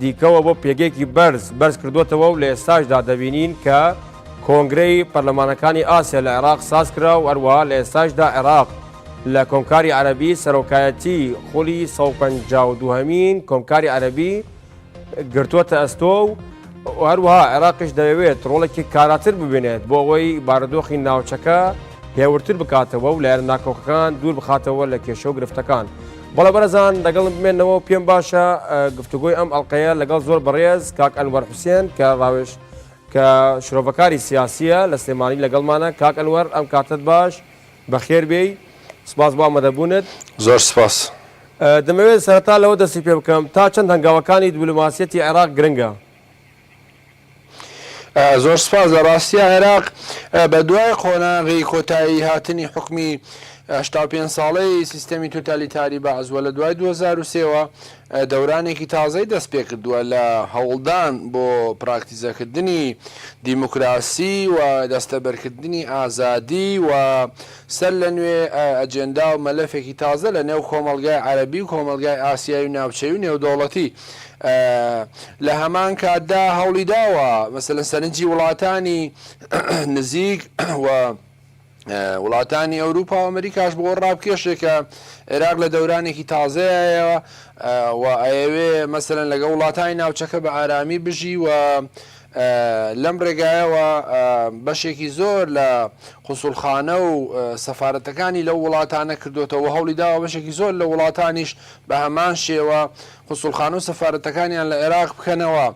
دیکەوە بۆ پێگەیەکی بەرز بەرز کردووەتەوە و لە ئێستاشدا دەبینین کە کۆنگرەی پەرلەمانەکانی ئاسیا لە عێراق ساز کرا و هەروەها لە ئێستاشدا عێراق لە کۆمکاری عەرەبی سەرۆکایەتی خولی 152 هەمین کۆمکاری عەرەبی گرتووەتە ئەستۆ و هەروەها عێراقش دەیەوێت ڕۆڵێکی کاراتر ببینێت بۆ ئەوەی بارودۆخی ناوچەکە هێورتر بکاتەوە و لایەن ناکۆکەکان دوور بخاتەوە لە کێشە و گرفتەکان. بەڵێ بەڕێزان لەگەڵم بمێنەوە و پێم باشە گفتوگۆی ئەم ئەڵلقەیە لەگەڵ زۆر بەڕێز کاک ئەنوەر حوسێن کە ڕاوێش کە شرۆڤەکاری سیاسیە لە سلێمانی لەگەڵمانە کاک ئەنوەر ئەم کاتت باش بەخێر بێی سپاس بۆ ئامەدەبوونت زۆر سپاس. دەمەوێت سەرەتا لەوە دەستی پێ بکەم تا چەند هەنگاوەکانی دبلۆماسیەتی عێراق گرنگە؟ زۆر سپاس لە ڕاستی عێراق بە دوای قۆناغی کۆتایی هاتنی حکومی هشتا پێ ساڵەی سیستەمی توتالیتاری بەعزوە لە دوای 2023ەوە دەورانێکی تازەی دەست پێ کردووە لە هەوڵدان بۆ پراکتیزەکردنی دیموکراسی و دەستەبەرکردنی ئازادی و سەرلەنوێ ئەجێندا و مەلەفێکی تازە لە نێو کۆمەڵگای عەرەبی و کۆمەڵگای ئاسیایی و ناوچەیی و نێودەوڵەتی لە هەمان کاتدا هەوڵی داوە مەسەلەن سەرنجی وڵاتانی نزیک و وڵاتانی ئەوروپا و ئەمریکاش بۆ ڕابکێشێ کە عێراق لە دەورانێکی تازەیەوە و ئەیەوێ مەسەلەن لەگە وڵاتانی ناوچەکە بە ئارامی بژی و لەم ڕێگایەوە بەشێکی زۆر لە قونسوڵخانە و سەفارەتەکانی لەو وڵاتانە کردووەتەوە و هەوڵی داوە بەشێکی زۆر لە وڵاتانیش بە هەمان شێوە قونسوڵخانە و سەفارەتەکانیان لە عێراق بکەنەوە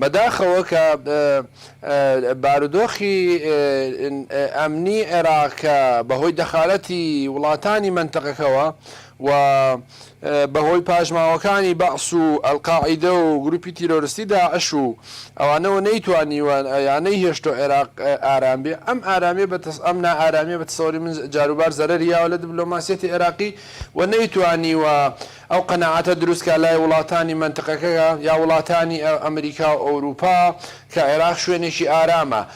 بەداخەوە کە بارودۆخی ئەمنی عێراق کە بەهۆی دەخالەتی وڵاتانی مەنتەقەکەوە و بە هۆی پاشماوەکانی بەعس و ئەلقاعیدە و گروپی تیرۆرستی داعش و ئەوانەوە نەیتوانیوە یا نەیهێشتوە عێراق ئارام بێ ئەم ئارامیە بە ئەم نا ئارامیە بە تەسەوری من جاروبار زەرەری یاوە لە دبلۆماسیەتی عێراقی و نەیتوانیوە ئەو قەناعەتە دروست کا لای وڵاتانی مەنتقەکە یا وڵاتانی ئەمریکا و ئەوروپا کە عێراق شوێنێکی ئارامە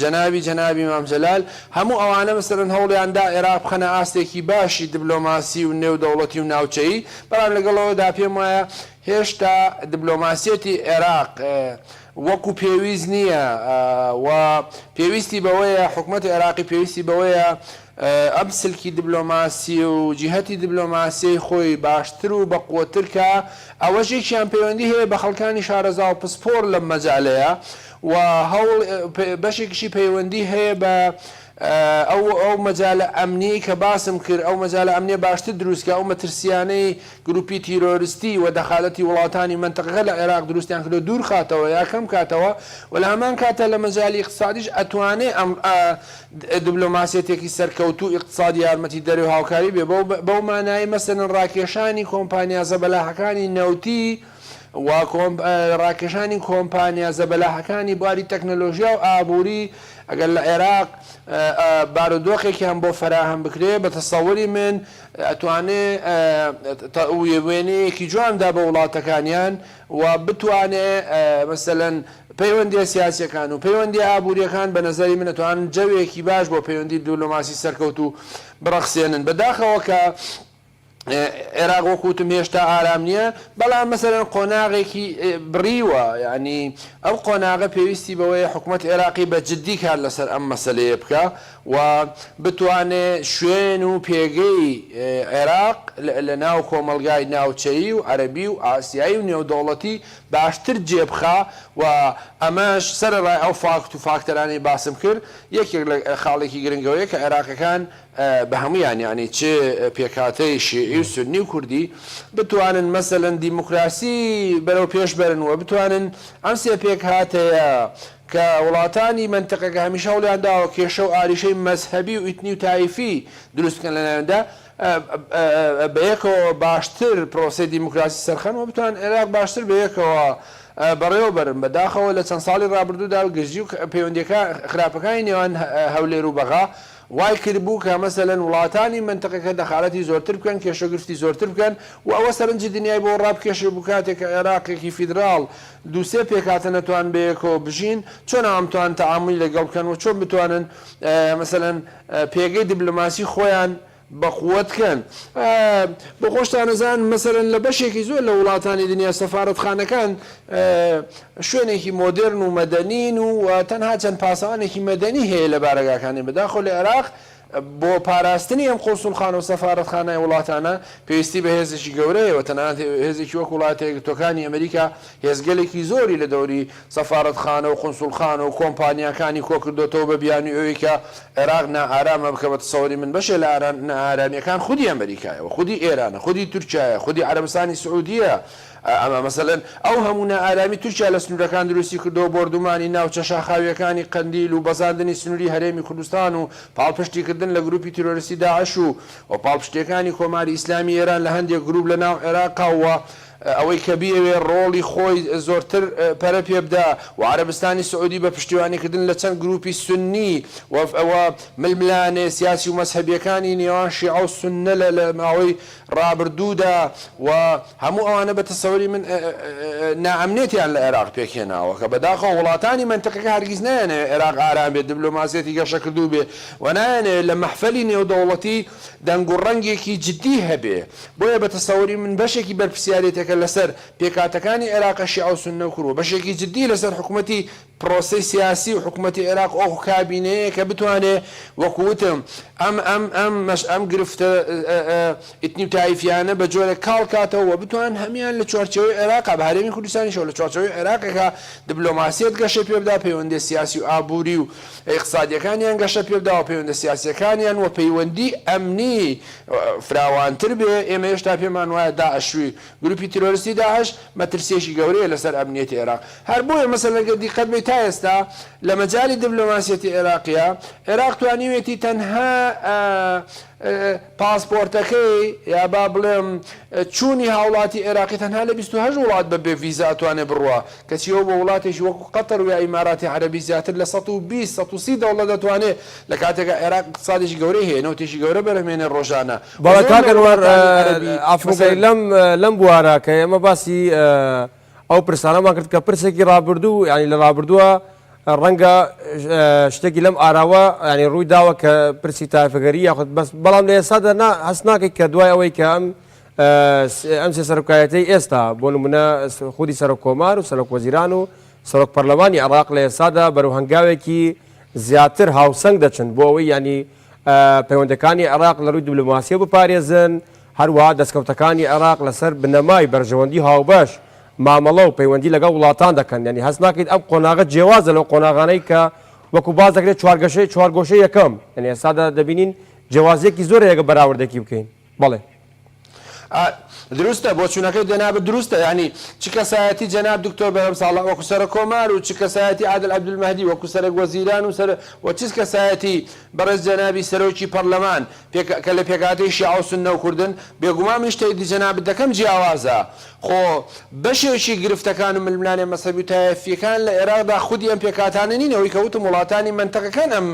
جەنابی جەنابی مام جەلال هەموو ئەوانە مسرن هەوڵیان دا عێراق بخەنە ئاستێکی باشی دبلۆماسی و نێو دەوڵەتی و ناوچەیی بەڵام لەگەڵ ئەوەدا پێم وایە هێشتا دبلۆماسیەتی عێراق وەکو پێویست نییە و پێویستی بەوەیە حکومەتی عێراقی پێویستی بەوەیە ئەم سلکی دبلۆماسی و جیهەتی دبلۆماسیەی خۆی باشتر و بەقوەتر کا ئەوەش یەکیان پەیوەندی هەیە بە خەڵکانی شارەزا و پسپۆر لەم مەجالەیە و هەوڵ بەشێکیشی پەیوەندی هەیە بە ئەو ئەو مەجالە ئەمنیەی کە باسم کرد ئەو مەجالە ئەمنیە باشتر دروست کە ئەو مەترسیانەی گروپی تیرۆرستی و دەخالەتی وڵاتانی مەنتەقەکە لە عێراق دروستیان کردوە دوور خاتەوە یا کەم کاتەوە و لە هەمان کاتە لە مەجالی ئیقتسادیش ئەتوانێ ئەم ئە دبلۆماسیەتێکی سەرکەوتوو ئیقتسادی یارمەتی دەرەوەی هاوکاری بێ بەو بەو مانایەی مەسەلەن ڕاکێشانی کۆمپانیا زەبەلاحەکانی نەوتی و ڕاکێشانی کۆمپانیا زەبەلاحەکانی بواری تەکنەلۆژیا و ئابووری، ئەگەر لە عێراق بارودۆخێکیان بۆ فەراهەم بکرێ، بە تەسەوری من ئەتوانێ وێنەیەکی جوان بدا بۆ وڵاتەکانیان و بتوانێ مەسەلەن پەیوەندییە سیاسییەکان و پەیوەندییە ئابوورییەکان بە نەزەری من ئەتوانن جەوێکی باش بۆ پەیوەندی دبلۆماسی سەرکەوتوو بڕەخسێنن بەداخەوە کە عێراق وەک وتم هێشتا ئارام نیە بەڵام مەسەلەن قۆناغێکی بڕیوە یانی ئەم قۆناغە پێویستی بەوەیە حکومەت عێراقی بە جدی کار لەسەر ئەم مەسەلەیە بکا و بتوانێ شوێن و پێگەی عێراق لە ناو کۆمەڵگای ناوچەیی و عەرەبی و ئاسیایی و نێودەوڵەتی باشتر جێ بخا و ئەمەش سەرەڕای ئەو فاکت و فاکتەرانەی باسم کرد یەکێک لە خاڵێکی گرنگەوەیە کە عێراقیەکان بە هەموویان یانی چ پێکهاتەی شیعی و سوننی و کوردی، بتوانن مەسەلەن دیموکراسی بەرەو پێش بەرن و بتوانن ئەم سێ پێکهاتەیە کە وڵاتانی مەنتقەکە هەمیشە هەوڵیان داوە کێشە و ئاریشەی مەزهەبی و ئیتنی و تایفی دروست بکەن لەناوێندا بەیەکەوە باشتر پرۆسەی دیموکراسی سەرخەن و بتوانن عێراق باشتر بەیەکەوە بەڕێوە بەرن بەداخەوە لە چەند ساڵی ڕابردوودا گرژی و پەیوەندییەکان خراپەکانی نێوان هەولێر و بەغا وای کردبوو کە مەسەلەن وڵاتانی مەنتقەکە دەخالەتی زۆرتر بکەن، کێشەگرفتی زۆرتر بکەن و ئەوە سەرنجی دنیای بۆ ڕابکێشێبوو کاتێک کە عێراقێکی فیدراڵ دوو سێ پێکهاتە نەتوان بەیەکەوە بژین چۆن ئامتوان تەعامولی لەگەڵ بکەن و چۆن بتوانن مەسەلەن پێگەی دبلۆماسی خۆیان بەقوەت کەن بۆخۆشتانەزان مەسەلەن لە بەشێکی زۆر لە وڵاتانی دنیا سەفارەتخانەکان شوێنێکی مۆدێرن و مەدەنین و تەنها چەند پاسەوانێکی مەدەنی هەیە لە بارەگاکانی، بەداخەوە لە عێراق بۆ پاراستنی ئەم قونسوڵخانە و سەفارەتخانای وڵاتانە پێویستی بە هێزێکی گەورە هەیە و تەنانەت هێزێکی وەک وڵاتە یەکگرتووەکانی ئەمریکا هێزگەلێکی زۆری لە دەوری سەفارەتخانە و قونسوڵخانە و کۆمپانیاکانی کۆکردۆتەوە بە بیانوی ئەوەی کە عێراق نائارامە بکە بە تەسەوری من بەشێ لە نائارامیەکان خودی ئەمریکایە و خودی ئێرانە خودی تورکیایە خودی عەرەبستانی سعودیە ئەمە مەسەلەن ئەو هەموو نائارامی تورکیا لە سنوورەکان دروستی کردووە، بۆردومانی ناوچە شاخاوییەکانی قەندیل و بەزاندنی سنووری هەرێمی کوردستان و پاڵپشتیکردن لە گرووپی تیرۆریستی داعش و و پاڵپشتییەکانی کۆماری ئیسلامی ئێران لە هەندێک گرووپ لە ناو عێراقا و ئەوەی کە بیەوێ ڕۆڵی خۆی زۆرتر پەرە پێ بدا و عەرەبستانی سعوودی بە پشتیوانیکردن لە چەند گرووپی سوننی و و ململانێ سیاسی و مەزهەبییەکانی نێوان شیعە و سوننە لە لە ماوەی ڕابردوودا و هەموو ئەوانە بە تەسەوری من نائەمنێتیان لە عێراق پێکهێناوە کە بەداخەوە وڵاتانی مەنتقەکە هەرگیز نایانەوێت عێراق ئارام بێت دبلۆماسیەتی گەشەکردوو بێ و نایانەوێت لە مەحفەلی نێودەوڵەتی دەنگ و ڕەنگێکی جدی هەبێ بۆیە بە تەسەوری من بەشێکی بەرپرسیارێتەکە لەسەر پێکهاتەکانی عێراقە شیعە و سوننە و کورد و بەشێکی جدی لەسەر حکومەتی پرۆسەی سیاسی و حکومەتی عێراق ئۆخ کابینەیە کە بتوانێ وەکو وتم ئەم ئەم ئەم مەش ئەم گرفتە ئیتنی و تایفیانە بە جۆرێک کاڵ کاتەوە و بتوان هەمیان لە چوارچێوەی عێراقا بە هەرێمی کوردستانیشەوە لە چوارچێوەی عێراقێکا دبلۆماسیەت گەشەی پێ بدا پەیوەندیە سیاسی و ئابوری و ئیقتسادیەکانیان گەشە پێ بدا و پەیوەندە سیاسیەکانیان و پەیوەندی ئەمنی فراوانتر بێ ئێمە هێشتا پێمان وایە داعش گروپی تیرۆرستی داعش مەترسیەکی گەورەیە لەسەر ئەمنیەتی عێراق هەر بۆیە مەسەلەن گەر دیقەت بەی تا ئێستا لە مەجالی دبلۆماسیەتی عێراقیا عێراق توانیوێتی تەنها پاسپۆرتەکەی یا با بڵێم چوونی هاوڵاتی عێراقی تەنها لە بیست و هەشت وڵات بە بێ ڤیزا ئەتوانێ بڕوا کەچی ئەو بۆ وڵاتێکی وەکو قەتەر ویا ئیماراتی عەرەبی زیاتر لە سەد و بیست سەد و سی دەوڵەت ئەتوانێ لە کاتێکا عێراق ئیقتسادێکی گەورەی هەیە نەوتێکی گەورە بەرهەمێنێ ڕۆژانە بەڵێ کاک ئەنوەر ئافرەتەی لەم لەم بوارە کە ئێمە باسی ئەو پرسانەمان کرد کە پرسێکی ڕابردوو ینی لە ڕابردووە ڕەنگە شتێکی لەم ئاراوە ینی ڕووی داوە کە پرسی تایفگەری یاخود بەس بەڵام لە ئێستا دەنا هەست ناکەیت کە دوای ئەوەی کە ئەم ئەم سێ سەرکایەتی ئێستا بۆ نمونە خودی سەرۆک کۆمار و سەرۆک وەزیران و سەرۆک پەرلەمانی عراق لە ئێستادا بەرو هەنگاوێکی زیاتر هاوسەنگ دەچن بۆ ئەوەی ینی پەیوەندەکانی عێراق لە رووی دبلۆماسیەوە بپارێزن، هەروەها دەستکەوتەکانی عێراق لەسەر بنەمای بەرژەوەندی هاوبەش مامەڵە و پەیوەندی لەگەڵ وڵاتان دەکەن، یانی هەست ناکەیت ئەم قۆناغە جێوازە لەو قۆناغانەی کە وەکو باس دەکرێت چوارگەشەی چوارگۆشەی یەکەم، یانی ئێستا دەبینین جێوازیەکی زۆرە یەگە بەراوردەکی بکەین. بەڵێ ئا دروستە بۆچونەکەی جەنابت دروستە یانی چ کەسایەتی جەناب دکتۆر بەرهەم ساڵح وەکو سەرۆک کۆمار و چ کەسایەتی عادل عبدالمهدی وەکو سەرەک وەزیران و سەر و چ کەسایەتی بەڕێز جەنابی سەرۆکی پەڕلەمان پێک کە لە پێکهاتەی شیعە و سوننە و کوردن بێگومان من شتەی دی جەنابت دەکەم جیاوازە خۆ بەشێکی گرفتەکان و ململانێ مەزهەبی و تایەفیەکان لە ئێراقدا خودی ئەم پێکهاتانە نین ئەوەی کە وتم وڵاتانی مەنتەقەکان ئەم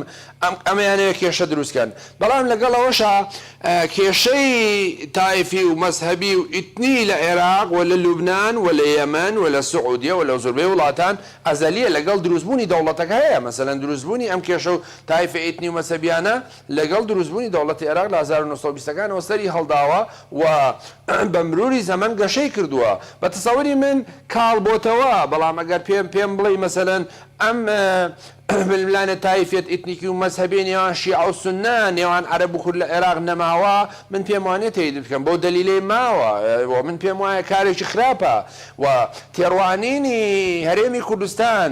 ئەمەیانەوێت کێشە دروست کەن بەڵام لەگەڵ ئەوەشا کێشەی تایفی و مەزهەبی و ئیتنی لە عێراق و لە لوبنان و لە یەمەن و لە سعودیە و لە زۆربەی وڵاتان ئەزەلیە لەگەڵ دروست بوونی دەوڵەتەکە هەیە مەسەلەن دروست بوونی ئەم کێشە و تایفە ئیتنی و مەزهەبیانە لەگەڵ دروست بوونی دەوڵەتی عێراق لە هەزار و نۆ سەد و بیست ەکانەوە سەری هەڵداوە و بە مروری زەمەن گەشەی کردووە بە تەسەوری من کاڵ بۆتەوە بەڵام ئەگەر پێم پێم بڵێی مەسەلەن ئەم ململانێ تایفیەت ئیتنیکی و مەزهەبی نێوان شیعە و سوننە، نێوان عەرەب و کورد لە عێراق نەماوە، من پێم وانیە تەیدی بکەم بەو دەلیلەی ماوە و من پێم وایە کارێکی خراپە و تێڕوانینی هەرێمی کوردستان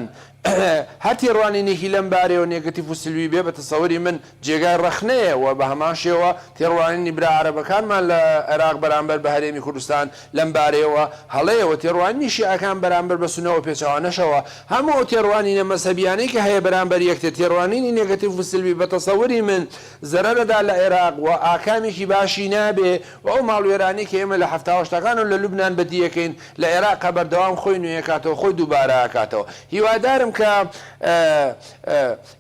هەر تێڕوانینێکی لەم بارەیەوە نێگەتیف و سلبی بێ بە تەسەوری من جێگای ڕەخنەیە و بە هەمان شێوە تێڕوانینی برا عەرەبەکانمان لە عێراق بەرامبەر بە هەرێمی کوردستان لەم بارەیەوە هەڵەیە و تێڕوانینی شیعەکان بەرامبەر بە سوننە و پێچەوانەشەوە، هەموو ئەو تێڕوانینە مەزهەبییانەی کە هەیە بەرامبەر یەکتر تێڕوانینی نێگەتیڤ و سلبی بە تەسەوری من زەرەر ئەدات لە عێراق و ئاکامێکی باشی نابێ و ئەو ماڵوێرانەی کە ئێمە لە حەفتا و هەشتاکان و لە لوبنان بەدی ئەکەین لە عێراق بەردەوام خۆی نوێ ئەکاتەوە خۆی دووبارە ئەکاتەوە هیوادارم کە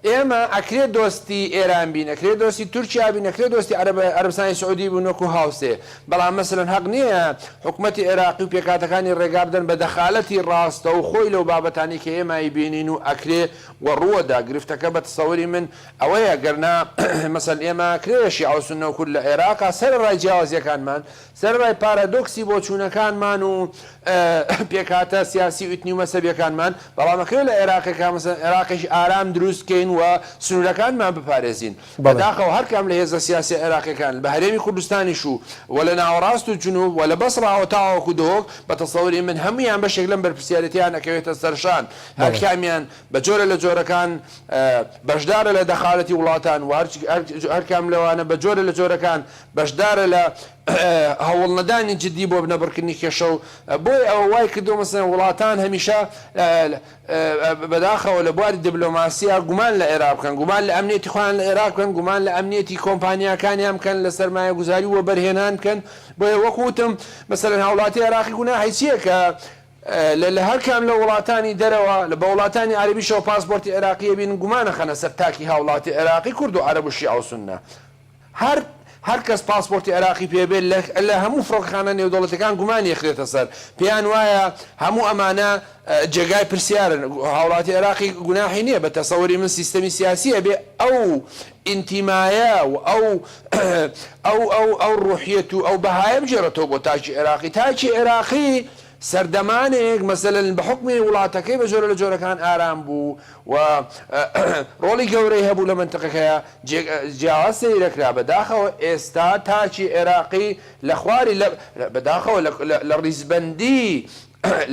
ئێمە ئەکرێ دۆستی ئێران بین ئەکرێ دۆستی تورکیا بین ئەکرێ دۆستی عەرەب عەرەبستانی سعودی بین وەکو هاوسێ بەڵام مەسەلەن هەق نیە حکومەتی عێراقی و پێکهاتەکانی ڕێگا بدەن بە دەخالەتی ڕاستەوخۆی لەو بابەتانەی کە ئێمە ئەیبینین و ئەکرێ و ڕووەدا گرفتەکە بە تەسەوری من ئەوەیە گەرنا مەسەلەن ئێمە ئەکرێ شیعە و سونە و کورد لە عێراقا سەرەڕای جیاوازیەکانمان سەرەڕای پارادۆکسی بۆچوونەکانمان و پێکهاتە سیاسی و ئیتنی و مەزهەبییەکانمان، بەڵام ئەکرێت لە عێراقێکا مەسەلەن عێراقێکی ئارام دروست بکەین و سنوورەکانمان بپارێزین. بەڵێ. بەداخەوە هەر کام لە هێزە سیاسییە عێراقییەکان، بە هەرێمی کوردستانیش و و لە ناوەڕاست و جنووب و لە بەسڕاوە تاوەکو دهۆک، بە تەسەوری من هەموویان بەشێک لەم بەرپرسیارێتییەیان ئەکەوێتە سەرشان. هەر بەڵێ. کامیان بە جۆرە لە جۆرەکان بەشدارە لە دەخالەتی وڵاتان و هەر هەر کام لەوانە بە جۆرە لە جۆرەکان بەشدارە لە هەوڵنەدانی جدی بۆ نەبڕکردنی کێشە و بۆیە ئەوە وای کردووە مثلەن وڵاتان هەمیشە بەداخەوە لە بواری دبلۆماسیا گومان لە عێراق بکەن، گومان لە ئەمنیەتی خۆیان لە عێراق بکەن، گومان لە ئەمنیەتی کۆمپانیاکانیان بکەن، لە سەرمایەگوزاری و وەبەرهێنان بکەن، بۆیە وەک وتم مثلەن هاوڵاتی عێراقی گوناحی چییە کە لە لە هەر کام لە وڵاتانی دەرەوە لە بە وڵاتانی عەرەبیشەوە پاسپۆرتی عێراقی هەبین گومان ئەخەنە سەر تاکی هاوڵاتی عێراقی کورد و عەرەب و شیعە و سوننە. هەر هەر کەس پاسپۆرتی عێراقی پێ بێت لە لە هەموو فڕۆکەخانە نێودەوڵەتیەکان گومانی ئەخرێتە سەر، پێیان وایە هەموو ئەمانە جێگای پرسیارن، هاوڵاتی عێراقی گوناحی نیە، بە تەسەوری من سیستەمی سیاسی ئەبێ ئەو ئینتیمایە و ئەو ئەو ئەو ئەو ڕوحیەت و ئەو بەهایە بگێڕێتەوە بۆ تاکی عێراقی، تاکی عێراقی سەردەمانێک مەسەلەن بە حوکمی وڵاتەکەی بە جۆرە لە جۆرەکان ئارام بوو و ڕۆڵی گەورەی هەبوو لە مەنتقەکەیا جیاواز سەیری دەکرا بە داخەوە ئێستا تاکی عێراقی لە خواری لە بە داخەوە لە ڕیزبەندی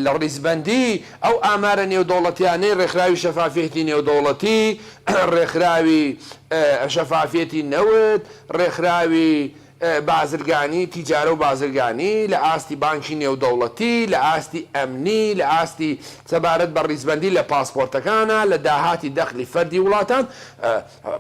لە ڕیزبەندی ئەو ئامارە نێودەوڵەتیانەی ڕێکخراوی شەفافیەتی نێودەوڵەتی ڕێکخراوی شەفافیەتی نەوت ڕێکخراوی بازرگانی، تیجارە و بازرگانی، لە ئاستی بانکی نێودەوڵەتی، لە ئاستی ئەمنی، لە ئاستی سەبارەت بە ڕیزبەندی لە پاسپۆرتەکانە، لە داهاتی دەخلی فەردی وڵاتان،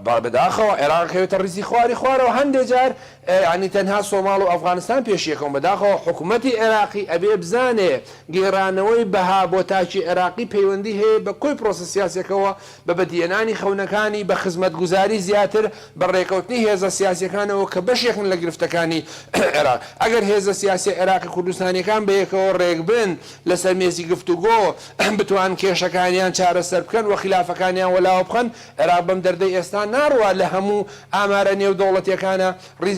بە بەداخەوە عێراق ئەکەوێتە ڕیزی خواری خوارەوە، هەندێ جار یانی تەنها سۆماڵ و ئەفغانستان پێش یەکەون، بەداخەوە حکومەتی عێراقی ئەبێ بزانێ گێڕانەوەی بەها بۆ تاکی عێراقی پەیوەندی هەیە بە کۆی پرۆسە سیاسیەکەوە بە بەدیهێنانی خەونەکانی بە خزمەتگوزاری زیاتر بە ڕێکەوتنی هێزە سیاسیەکانەوە کە بەشێکن لە گرفتەکانی عێراق. ئەگەر هێزە سیاسیە عێراقی کوردستانیەکان بە یەکەوە ڕێکبن لەسەر مێزی گفتوگۆ بتوان کێشەکانیان چارەسەر بکەن و خیلافەکانیان وەلاوە بخەن عێراق بەم دەردەی ئێستا ناڕوا لە هەموو ئامارە نێودەوڵەتیەکانە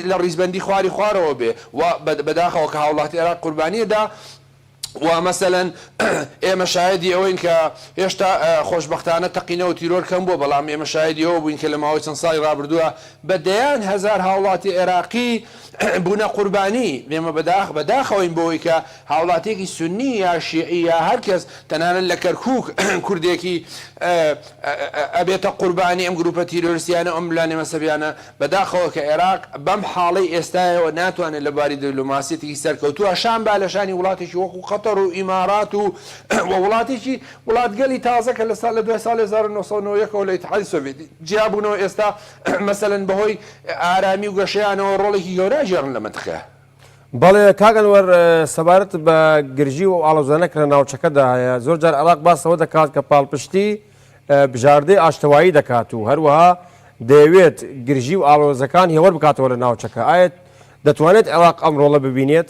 لە ڕیزبەندی خواری خوارەوە بێ و بەداخەوە کە هاوڵاتی عێراق قوربانیە دا وا مەسەلەن ئێمە شایەدی ئەوەین کە هێشتا خۆشبەختانە تەقینەوە و تیرۆر کەم بووە، بەڵام ئێمە شایەدی ئەوە بووین کە لە ماوەی چەند ساڵی ڕابردووە بە دەیان هەزار هاوڵاتی عێراقی بوونە قوربانی، ئێمە بە داخ بە داخەوەین بەوەی کە هاوڵاتیەکی سوننی یا شیعی یا هەر کەس تەنانەت لە کەرکووک کوردێکی ئەبێتە قوربانی ئەم گرووپە تیرۆریستیانە و ئەم ملانێ مەسەبیانە. بەداخەوە کە ئێراق بەم حاڵەی ئێستایەوە ناتوانێت لە بواری دبلۆماسیەتێکی سەرکەوتووە شان با لە شانی وڵاتێکی وەکو قەتەر و ئیمارات و و وڵاتێکی وڵاتگەلی تازە کە لە سا لە دوای ساڵی هەزار و نۆ سەد و نەوە و یەک ەوە لە ئیتحادی سۆڤێتی جیابوونەوە ئێستا مەسەلەن بەهۆی ئارامی و گەشەیانەوە ڕۆڵێکی گەورە ئەگێڕن لە مەنتقە. بەڵێ کاک ئەنوەر، سەبارەت بە گرژی و ئەو ئاڵۆزانە کە لە ناوچەکەدا هەیە، زۆر جار ئێراق باس لەوە دەکات کە پاڵپشتی، بژاردەی ئاشتەوایی دەکات و هەروەها دەیەوێت گرژی و ئاڵۆزەکان هێوەر بکاتەوە لە ناوچەکە، ئایا دەتوانێت عێراق ئەم ڕۆڵە ببینێت؟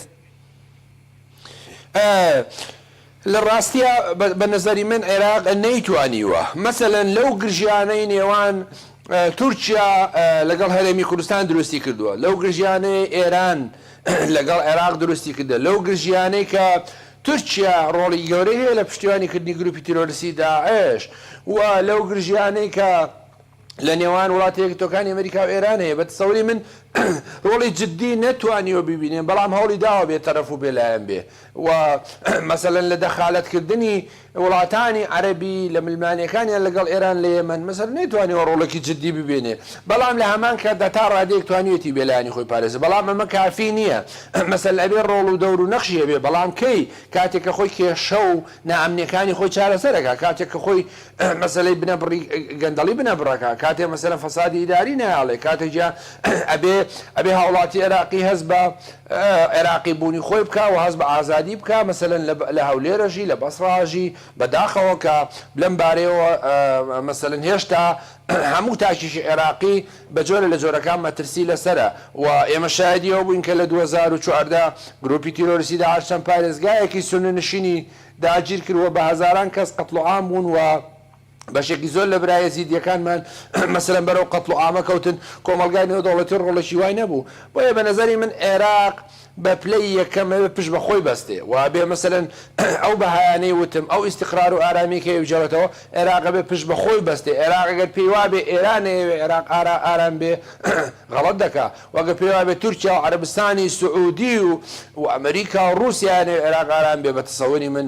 لە ڕاستیا بە نەزەری من عێراق نەیتوانیوە مەسەلەن لەو گرژیانەی نێوان تورکیا لەگەڵ هەرێمی کوردستان دروستی کردووە، لەو گرژیانەی ئێران لەگەڵ عێراق دروستی کردە، لەو گرژیانەی کە تورکیا ڕۆڵی گەورەی هەیە لە پشتیوانی کردنی گروپی تیرۆرستی داعش و لەو گرژیانەی کە لە نێوان وڵاتە یەکگرتووەکانی ئەمریکا و ئێران هەیە بە تەسەوری من ڕۆڵی جدی نەتوانیوە ببینێ بەڵام هەوڵی داوە بێ تەرەف و بێ لایەن بێ و مەسەلەن لە دەخالەت کردنی وڵاتانی عەرەبی لە ململانێکانیان لەگەڵ ئێران لە یەمەن، مەسەر نەیتوانیوە ڕۆڵێکی جددی ببینێ، بەڵام لە هەمان کاتدا تا ڕادەیەک توانیوێتی بێلایەنی خۆی پارێزێ، بەڵام ئەمە کافی نییە، مەسەل ئەبێ ڕۆڵ و دەور و نەخشی هەبێ، بەڵام کەی؟ کاتێک کە خۆی کێشە و نائەمنییەکانی خۆی چارەسەر ئەکا، کاتێک کە خۆی مەسەلەی بنەبڕی گەندەڵی بنەبڕ ئەکا، کاتێک مەسەلەن فەسادی ئیداری نایەڵێ، کاتێک جا ئەبێ ئەبێ هاوڵاتی عێراقی هەست بە عێراقی بوونی خۆی بکا و هەست بە ئازادی بکا، مەسەلەن لە هەولێر ئەژی، لە بەسڕە ئەژی، بەداخەوە کە لەم بارەیەوە مەسەلەن هێشتا هەموو تاکێکی عێراقی بە جۆرە لە جۆرەکان مەترسی لەسەرە و ئێمە شایەدی ئەوە بووین کە لە دوو هەزار و چواردە گرووپی تیرۆریستی داعش چەند پارێزگایەکی سوننە نشینی داگیر کرد و بە هەزاران کەس قەتڵوعام بوون و بەشێکی زۆر لە برا یەزیدییەکانمان مەسەلەن بەرەو قەتڵوعامە کەوتن، کۆمەڵگای نێودەوڵەتی ڕۆڵێکی وای نەبوو، بۆیە بە نەزەری من عێراق بە پلەی یەکەم ئەبێ پشت بە خۆی بەستێ و ئەبێ مەسەلەن ئەو بەهایانەی وتم، ئەو ئیستیقرار و ئارامییەی کە ئێوجەوەتەوە، عێراق ئەبێ پشت بە خۆی بەستێ، عێراق ئەگەر پێی وابێ ئێران نەیەوێ عێراق ئارا ئارام بێ غەڵەت دەکا و ئەگەر پێی وابێ تورکیا و عەرەبستانی سعوودی و ئەمریکا و ڕووسیایە نەیەوێ عێراق ئارام بێ بە تەسەوری من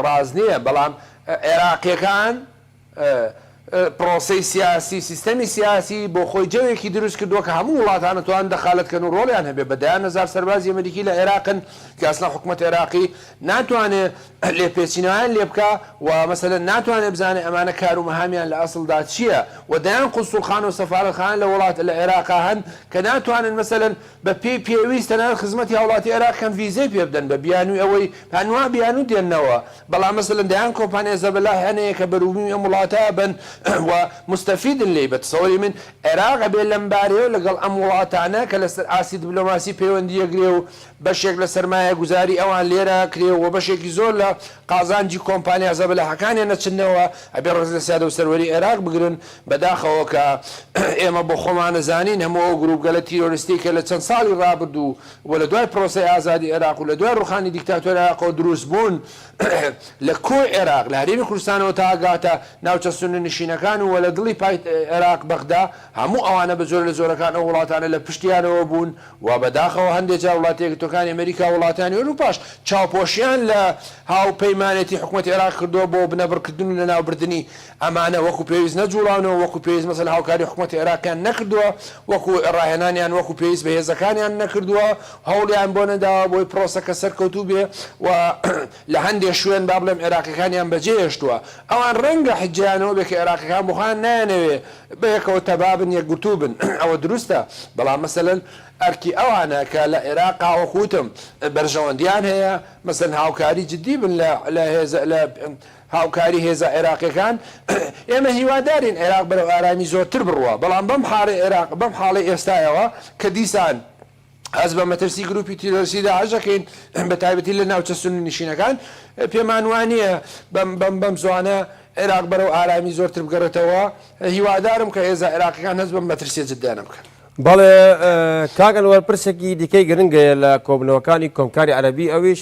ڕاست نییە، بەڵام عێراقییەکان پرۆسەی سیاسی، سیستەمی سیاسی بۆ خۆی جەوێکی دروست کردووە کە هەموو وڵاتان ئەتوانن دەخالەت کەن و رۆڵیان هەبێ، بە دەیان هەزار سەربازی ئەمریکی لە عێراقن کە ئەسڵەن حکومەت عێراقی ناتوانێ لێپێچینەوەیان لێ بکا و مەسەلەن ناتوانێ بزانێ ئەمانە کار و مەهامیان لە ئەسڵدا چییە و دەیان قونسوڵخانە و سەفارەتخانە لە وڵات لە عێراقا هەن کە ناتوانن مەسەلەن بە پێی پێویست تەنانەت خزمەتی هاوڵاتی عێراق کەن ڤیزەی پێ بدەن بە بیانوی ئەوەی هەنوا بیانو دێننەوە بەڵام مەسەلەن دەیان کۆمپانیا زەبەلاح هەن هەیە کە بەروبومی ئەم وڵاتە ئەبەن و موستەفیدن لێی بە تەسەوری من عێراق ئەبێ لەم بارەیەوە لەگەڵ ئەم وڵاتانە کە لەسەر ئاستی دبلۆماسی پەیوەندی یەکگرێ و بەشێک لە سەرمایە گوزاری ئەوان لێرە کرێ و بەشێکی زۆر لە قازانجی کۆمپانیا زەبەلاحەکانیان نەچننەوە ئەبێ ڕێز لە سیادە و سەروەری عێراق بگرن بەداخەوە کە ئێمە بۆ خۆمان ئەزانین هەموو ئەو گرووپگەلە تیرۆرستیەی کە لە چەند ساڵی ڕابردوو و لە دوای پرۆسەی ئازادی عێراق و لە دوای ڕووخانی دیکتاتۆری عێراقەوە درووست بوون لە کۆی عێراق لە هەرێمی کوردستانەوە تا ئەگاتە ناوچە سوننە نشینەکان و لە دڵی پایتەختی عێراق بەغدا هەموو ئەوانە بە جۆرە لە جۆرەکان ئەو وڵاتانە لە پشتیانەوە بوون و بەداخەوە هەندێ جار وڵاتە یەکگرتووەکانی ئەمەریکا و وڵاتانی ئەوروپاش چاوپۆشیان لە هاوپەیمانێتی حکومەتی عێراق کردووە بۆ بنەبڕکردن و لەناوبردنی ئەمانە وەکو پێویست نەجوڵاونەوە، وەکو پێویست مەسەلەن هاوکاری حکومەتی عێراقیان نەکردووە، وەکو ڕاهێنانیان وەکو پێویست بە هێزەکانیان نەکردووە، هەوڵیان بۆ نەداوە بۆی پرۆسەکە سەرکەوتوو بێ و لە هەندێ شوێن با بڵێم عێراقیەکانیان بەجێ هێشتووە. ئەوان ڕەنگە حجەیان ئەوە بێ کە عێراقیەکان بۆ خۆیان نایانەوێ بە یەکەوە تەبا بن، یەکگرتوو بن. ئەوە دروستە. بەڵام مەسەلەن ئەرکی ئەوانە کە لە عێراقا وەکو وتم بەرژەوەندیان هەیە، مەسەلەن هاوکاری جدی بن لە لە هێزە لە. هاوکاری هێزە عێراقیەکان، ئێمە هیوادارین عێراق بەرەو ئارامی زۆرتر بڕوا، بەڵام بەم حاڵەی عێراق، بەم حاڵەی ئێستایەوە کە دیسان هەست بە مەترسی گروپی تیرۆریستی داعش دەکەین بە تایبەتی لە ناوچە سوننە نشینەکان، پێمان وانیە بەم زوانە عێراق بەرەو ئارامی زۆرتر بگەڕێتەوە، هیوادارم کە هێزە عێراقیەکان هەست بەم مەترسیە جدیانە بکەن. بەڵێ کاک ئەنوەر، پرسێکی دیکەی گرنگەیە لە کۆبوونەوەکانی کۆمکاری عەرەبی ئەویش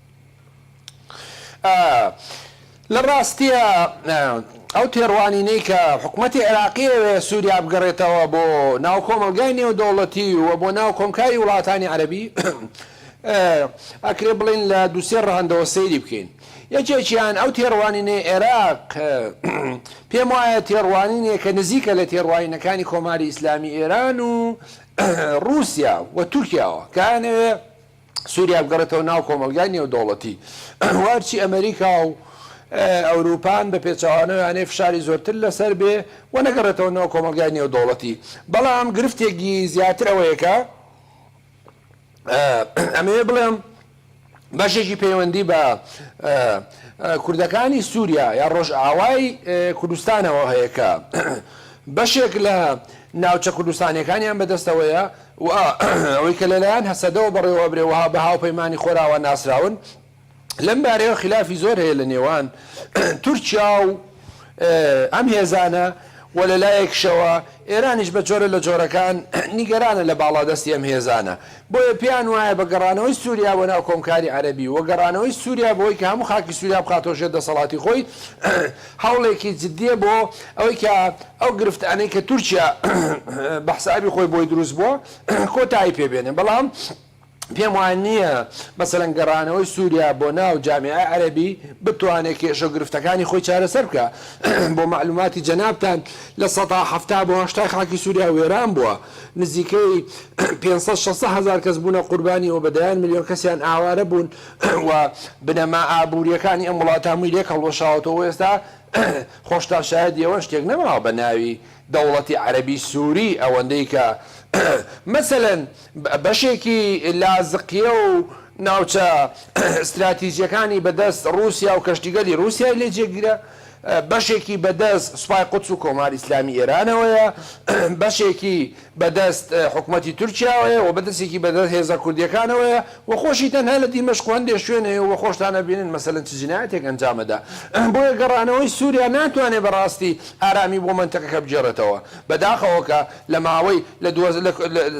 لە ڕاستیا ئەو تێڕوانینەی کە حکومەتی عێراقی ئەوێ سووریا بگەڕێتەوە بۆ ناو کۆمەڵگای نێودەوڵەتی و بۆ ناو کۆمکاری وڵاتانی عەرەبی ئەکرێ بڵێین لە دوو سێ ڕەهەندەوە سەیری بکەین. یەکێکیان ئەو تێڕوانینەی عێراق پێم وایە تێڕوانینێکە نزیکە لە تێڕوانینەکانی کۆماری ئیسلامی ئێران و ڕووسیا و تورکیاوە کە ئەیانەوێ سوریا بگەڕێتەوە ناو کۆمەڵگای نێودەوڵەتی و هەرچی ئەمەریکا و ئەوروپان بە پێچەوانەوە یانەی فشاری زۆرتر لەسەر بێ و نەگەڕێتەوە ناو کۆمەڵگای نێودەوڵەتی بەڵام گرفتێکی زیاتر ئەوەیە کە ئەمەوێ بڵێم بەشێکی پەیوەندی بە کوردەکانی سووریا یا ڕۆژئاوای کوردستانەوە هەیە کە بەشێک لە ناوچە کوردستانەکانیان بەدەستەوەیە و ئەوەی کە لەلایەن هەسەدەوە بەڕێوە ئەبرێ و بە هاوپەیمانی خۆراوا ناسراون، لەم بارەیەوە خیلافی زۆر هەیە لە نێوان تورکیا و ئەم هێزانە و لە لایەکیشەوە ئێرانیش بە جۆرە لە جۆرەکان نیگەرانە لە باڵادەستی ئەم هێزانە، بۆیە پێیان وایە بە گەڕانەوەی سووریا بۆ ناو کۆمکاری عەرەبی و گەڕانەوەی سووریا بەوەی کە هەموو خاکی سووریا بخاتەوە ژێر دەسەڵاتی خۆی، هەوڵێکی جدیە بۆ ئەوەی کە ئەو گرفتانەی کە تورکیا بە حسابی خۆی بۆی دروست بووە کۆتایی پێ بێنێ بەڵام پێم وا نییە مەسەلەن گەڕانەوەی سوریا بۆ ناو جامعەی عەرەبی بتوانێ کێشە و گرفتەکانی خۆی چارەسەر بکا بۆ مەعلوماتی جەنابتان لە سەدا حەفتا بۆ هەشتای خاکی سوریا وێران بووە نزیکەی پێنج سەد شەست هەزار کەس بوونە قوربانی و بە دەیان ملیۆن کەسیان ئاوارە بوون و بنەما ئابوورییەکانی ئەم وڵاتە هەمووی لێک هەڵوەشاوەتەوە و ئێستا خۆشتان شایەدی ئەوەن شتێک نەماوە بە ناوی دەوڵەتی عەرەبی سووری ئەوەندەی کە مەسەلەن بەشێکی لازقییە و ناوچە ستراتیجییەکانی بە دەست ڕووسیا و کەشتیگەلی ڕووسیای لێ جێگیرە بەشێکی بەدەست سوپای قودس و کۆماری ئیسلامی ئێرانەوەیە، بەشێکی بەدەست حکومەتی تورکیاوەیە و بەدەستێکی بەدەست هێزە کوردیەکانەوەیە و خۆشی تەنها لە دیمەشق و هەندێ شوێن هەیە و خۆشتان ئەبینن مەسەلەن چ جنایەتێک ئەنجام ئەدا. بۆیە گەڕانەوەی سوریا ناتوانێ بە ڕاستی ئارامی بۆ مەنتەقەکە بگێڕێتەوە. بە داخەوە کە لە ماوەی لە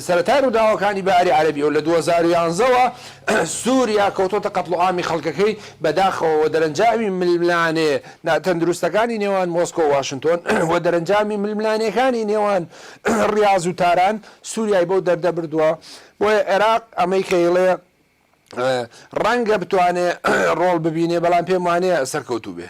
سەرەتای ڕووداوەکانی بەهاری عەرەبیەوە لە دوو هەزار و یازدە وە سوریا کەوتۆتە قەتڵوعامی خەڵکەکەی بەداخەوە وە دەرەنجامی ململانێ ناتەندروستەکانی نێوان مۆسکۆ و واشنتۆن وە دەرەنجامی ململانێکانی نێوان ڕیاز و تاران سوریای بەو دەردە بردوە بۆیە عێراق ئەمەی کە ئیڵێ ڕەنگە بتوانێ ڕۆڵ ببینێ بەڵام پێم وانیە سەرکەوتوو بێ.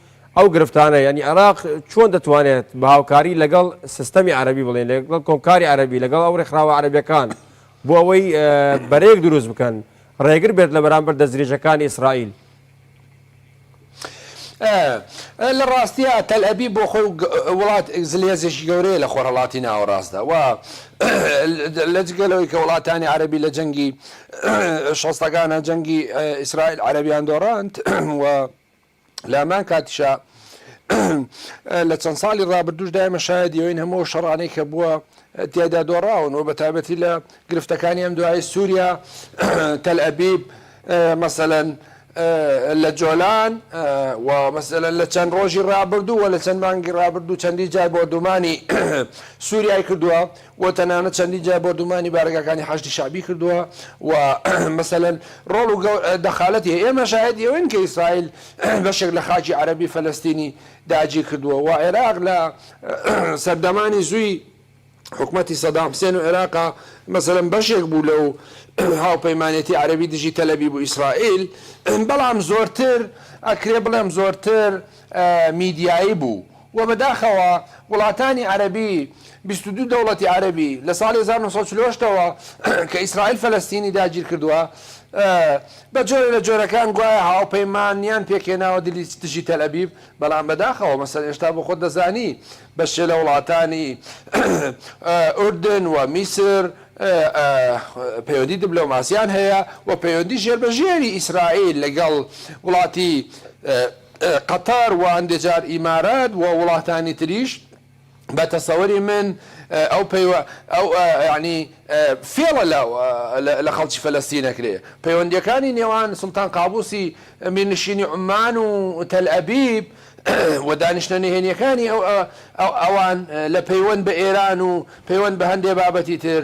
ئەو گرفتانە یانی عێراق چۆن دەتوانێت بە هاوکاری لەگەڵ سیستەمی عەرەبی بڵێن لەگەڵ کۆمکاری عەرەبی لەگەڵ ئەو ڕێکخراوە عەرەبیەکان بۆ ئەوەی بەرەیەک دروست بکەن ڕێگر بێت لە بەرامبەر دەستدرێژەکانی ئیسرائیل لە ڕاستیە تەل ئەبی بۆ خۆی وڵات زلێزێکی گەورەیە لە خۆرهڵاتی ناوەڕاستدا و لە جگەلەوەی کە وڵاتانی عربی لە جەنگی شەستەکانە جەنگی ئیسرائیل عربیان دۆڕاند و لە هەمان کاتیشا لە چەند ساڵی ڕابردوش دایمە شایدی ئەوین هەموو شەڕانەی کە بووە تیادا دۆڕاون و بە تایبەتی لە گرفتەکانی ئەم دوای سووریا تەل ئەبیب مەسەەن لە جۆلان و مەسەەن لە چەند ڕۆژی ڕابردوو و لە چەند مانگی ڕابردوو چەندی جار بۆردومانی سووریای کردووە و تەنانەت چەندین جار بۆردومانی بارەگاکانی حەشدی شەعبی کردووە و مەسەلەن ڕۆڵ و دەخالەتی هەیە، ئێمە شاهێدی ئەوەین کە ئیسرائیل بەشێک لە خاکی عەرەبی فەلەستینی داگیر کردووە و عێراق لە سەردەمانی زوی حکومەتی سەدام حسێن و عێراق مەسەلەن بەشێک بوو لەو هاوپەیمانێتی عەرەبی دژی تەلەبیب و ئیسرائیل بەڵام زۆرتر ئەکرێ بڵێم زۆرتر میدیایی بوو وە بەداخەوە وڵاتانی عەرەبی بیست و دوو دەوڵەتی عەرەبی لە ساڵی هەزار و نۆ سەد و چل و هەشت تەوە کە ئیسرائیل فەلەستینی داگیر کردوە بە جۆرە لە جۆرەکان گوایە هاوپەیمانیان پێکهێناوە دژی تەلئەبیب بەڵام بەداخەوە مەسەن ئێشتا بۆ خۆت دەزانی بەشێ لە وڵاتانی ئوردن و میسر پەیوەندی دبلۆماسیان هەیە و پەیوەندی ژێر بە ژێری ئیسرائیل لەگەڵ وڵاتی قەتار و هەندێ جار ئیمارات و وڵاتانی تریش بە تەسەوری من ئەو پەیوە ئەو یانی فێڵە لە لە خەڵکی فەلەستین ئەکرێ پەیوەندیەکانی نێوان سوڵتان قابوسی میرنشینی عومان و تەل ئەبیب و دانیشتنە نهێنیەکانی ئەو ئەوان لە پەیوەند بە ئێران و پەیوەند بە هەندێ بابەتی تر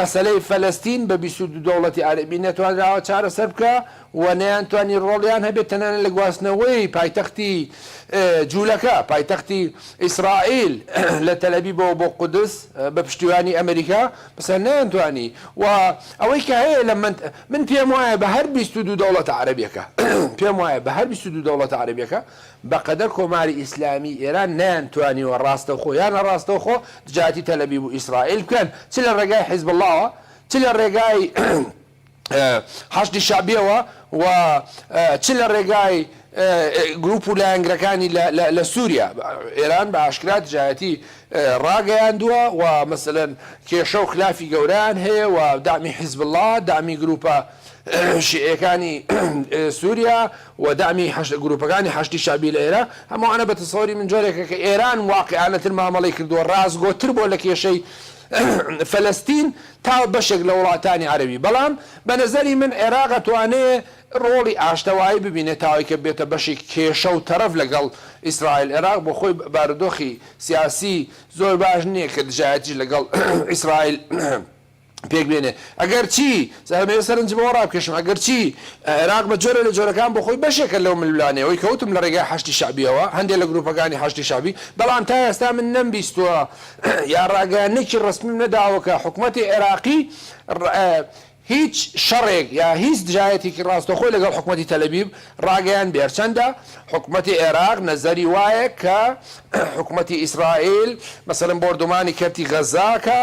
مەسەلەی فەلەستین بە بیست و دوو دەوڵەتی عەرەبی نەتوانراوە چارەسەر بکا و نەیانتوانی ڕۆڵیان هەبێت تەنانەت لە گواستنەوەی پایتەختی جوولەکە، پایتەختی ئیسرائیل، لە تەلئەبیبەوە بۆ قودس بە پشتیوانی ئەمریکا، بەسە نەیانتوانی و ئەوەی کە هەیە لە من پێموایە بە هەر بیست و دوو دەوڵەتە عەرەبیەکە پێموایە بە هەر بیست و دوو دەوڵەتە عەرەبیەکە بەقەدەر کۆماری ئیسلامی ئێران نەیانتوانیوە ڕاستەوخۆ یا ناڕاستەوخۆ دژایەتی تەلەبیب و ئیسرائیل بکەن چ لە ڕێگای حیزبوڵاوە چ لە ڕێگای حەشدی شەعبییەوە و چ لە ڕێگای گرووپ و لایەنگرەکانی لە سووریا ئێران بە ئاشکرا دژایەتی ڕاگەیاندووە و مەسەلەن کێشە و خلافی گەورەیان هەیە و دەعمی حیزبوڵا دەعمی گرووپە شیعییەکانی سووریا و دەعمی حەشد گروپەکانی حەشدی شەعبی لە ئێرا، هەم ئەوانە بە تەسەوری من جۆرێکە کە ئێران واقیعانە تر مامەڵەی کردووە ڕاستگۆ تر بۆ لە کێشەی فەلەستین تا بەشێک لە وڵاتانی عەرەبی بەڵام بە نەزەری من عێراق ئەتوانێ ڕۆڵی ئاشتەوایی ببینێ تا ئەوەی کە ببێتە بەشێکی کێشە و تەرەف لە گەڵ ئیسرائیل عێراق بۆ خۆی بارودۆخی سیاسی زۆر باش نیە کە دژایەتیش لە گەڵ ئیسرائیل پێک بێنێ ئەگەر چی زەهەمەیە سەرنج بەوە ڕابکێشم ئەگەر چی عێراق بە جۆرە لە جۆرەکان بۆ خۆی بەشێکە لەو ململانێوەی کەوتم لە ڕێگای حەشدی شەعبیەوە هەندێ لە گروپەکانی حەشدی شەعبی بەڵام تا ئێستا من نەم بیستوە یا ڕاگەیانێکی ڕەسمیم نەداوە کە حکومەتی عێراقی هیچ شەڕێک یا هیچ دژایەتێکی ڕاستەخۆی لەگەڵ حکومەتی تەلەبیب ڕاگەیان بێرچەندە حکومەتی عێراق نەزەری وایە کە حکومەتی ئیسرائیل مەسەرم بۆردومانی کەرتی غەزاکە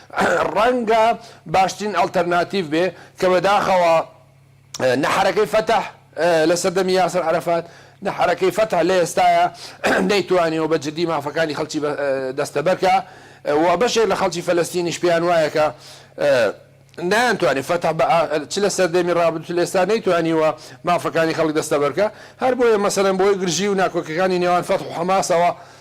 ڕەنگە باشترین ئەڵتەرناتیڤ بێ کە بەداخەوە نە حەرەکەی فەتح لە سەردەمی یاسر عەرەفات، نە حەرەکەی فەتح لە ئێستایا نەیتوانیوە بە جدی مافەکانی خەڵکی دەستەبەر کا و بەشێک لە خەڵکی فەلەستینیش پێیان وایە کە نایانتوانی، فەتح چ لە سەردەمی ڕابردوو چ لە ئێستا نەیتوانیوە مافەکانی خەڵک دەستەبەر کا، هەر بۆیە مەسەلەن بەهۆی گرژی و ناکۆکیەکانی نێوان فەتح و حەماسەوە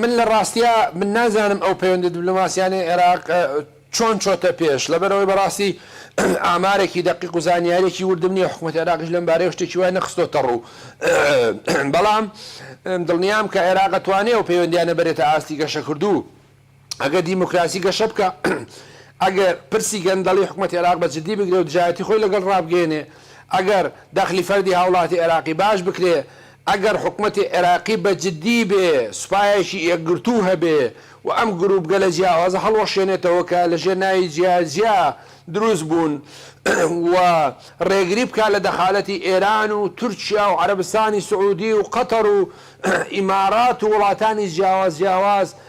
من لە ڕاستیا من نازانم ئەو پەیوەندە دبلۆماسیانەی عێراق چۆن چۆتە پێش لەبەرەوەی بەڕاستی ئامارێکی دەقیق و زانیارێکی وردم نیە حکوومەت عێراقیش لەم بارەیە شتێکی وای نەخستۆتە ڕوو بەڵام دڵنیام کە عێراقەتوانێ و پەیوەندیانە بەرێتە ئاستی گەشەکردوو ئەگەر دیموکراسی گەشە بکا، ئەگەر پرسی گەندەڵی حکومەتی عێراق بە جدی بگرێ و دژایەتی خۆی لەگەڵ ڕابگەیەنێ، ئەگەر دەخلی فەردی هاوڵاتی عێراقی باش بکرێ، ئەگەر حکومەتی عێراقی بە جدی بێ، سوپایەکی یەکگرتوو هەبێ و ئەم گرووپگەلە جیاوازە هەڵوەشێنێتەوە کە لە ژێر ناوی جیا جیا دروست بوون و ڕێگری بکا لە دەخالەتی ئێران و تورکیا و عەرەبستانی سعوودی و قەتەر و ئیمارات و وڵاتانی جیاواز جیاواز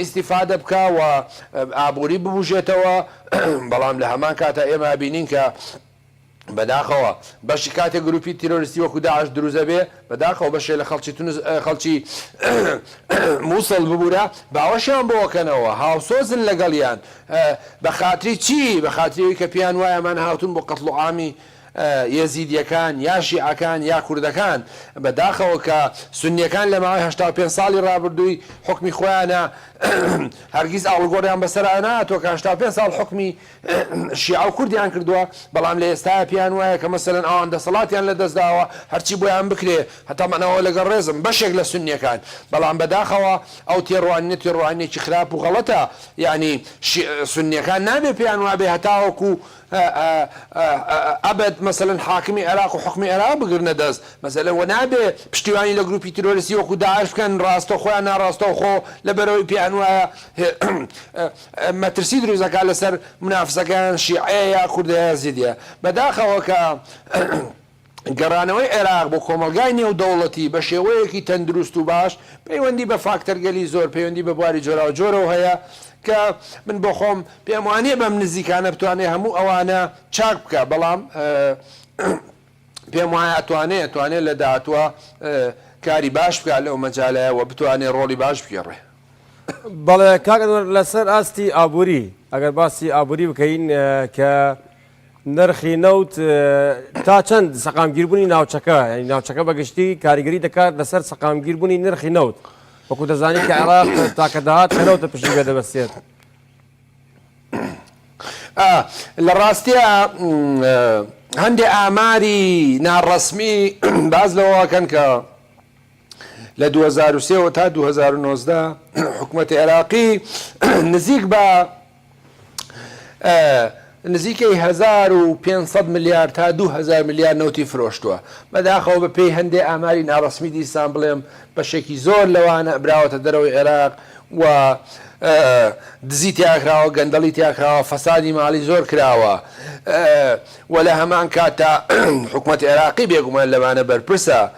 ئیستیفادە بکا و ئابووری ببوژێتەوە، بەڵام لە هەمان کاتا ئێمە ئەبینین کە بەداخەوە بەشی کاتێ گرووپی تیرۆریستی وەکوو داعش دروست ئەبێ، بەداخەوە بەشێ لە خەڵکی تونس خەڵکی مووسڵ ببوورە باوەشیان بۆ ئەکەنەوە، هاوسۆزن لەگەڵیان، بە خاتری چی؟ بە خاتری ئەوی کە پێیان وایە ئەمان هاتوون بۆ قەتڵوعامی یەزیدیەکان یا شیعەکان یا کوردەکان بە داخەوە کە سونیەکان لە ماوەی هەشتا و پێنج ساڵی ڕابردووی حوکمی خۆیانا هەرگیز ئاڵوگۆڕیان بەسەرا نەهاتووە کە هەشتا و پێنج ساڵ حوکمی شیعە و کوردیان کردووە بەڵام لە ئێستایە پێیان وایە کە مەسەلەن ئەوان دەسەڵاتیان لە دەست داوە هەرچی بۆیان بکرێ تەمەنەوە لەگەڵ ڕێزم بەشێک لە سونیەکان بەڵام بە داخەوە ئەو تێڕوانینە تێڕوانینێکی خراپ و غەڵەتە یانی شیعە سونیەکان نابێ پێیان وابێ هەتاوەکوو ئەبەد مەسەلەن حاکمی عێراق و حوکمی عێراق بگرنە دەست مەسەلەن وە نابێ پشتیوانی لە گروپی تیرۆریستی وەکو داعش بکەن ڕاستەوخۆ یان ناڕاستەوخۆ لەبەرئەوەی پێیان وایە مەترسی دروست ئەکات لەسەر منافسەکەیان شیعەیە یا کوردە یا یەزیدیە بەداخەوە کە گەڕانەوەی عێراق بۆ کۆمەڵگای نێودەوڵەتی بە شێوەیەکی تەندروست و باش پەیوەندی بە فاکتەرگەلی زۆر پەیوەندی بە بواری جۆراوجۆرەوە هەیە کە من بۆ خۆم پێم وانیە بەم نزیکانە بتوانێت هەموو ئەوانە چاک بکات بەڵام پێم وایە ئەتوانێت ئەتوانێت لە داهاتووە کاری باش بکات لەو مەجالەیە و بتوانێت ڕۆڵی باش بگێڕێ. بەڵێ کاک ئەنوەر لەسەر ئاستی ئابووری ئەگەر باسی ئابووری بکەین کە نرخی نەوت تا چەند سەقامگیربوونی ناوچەکە ینی ناوچەکە بەگشتی کاریگەری دەکات لەسەر سەقامگیربوونی نرخی نەوت وەکو دەزانانی کە عێراق تاکە داهات کە نەوتە پشی بێ دەبەستێت. لە ڕاستیە هەندێ ئاماری ناڕەسمی باز لەوەکەن کە لە دوو هەزار و سێ وە تا دوو هەزار و نۆزدە حکومەتی عێراقی نزیک بە نزیکەی هەزار و پێنج سەد ملیار تا دوو هەزار ملیار نەوتی فرۆشتووە بەداخەوە بە پێی هەندێ ئاماری ناڕەسمی دیسان بڵێم بەشێکی زۆر لەوانە براوەتە دەرەوەی عێراق و دزی تیاکراوە گەندەڵی تیاکراوە فەسادی ماڵی زۆر کراوە و لە هەمان کاتە حکوومەت عێراقی بێگومان لەوانە بەرپرسە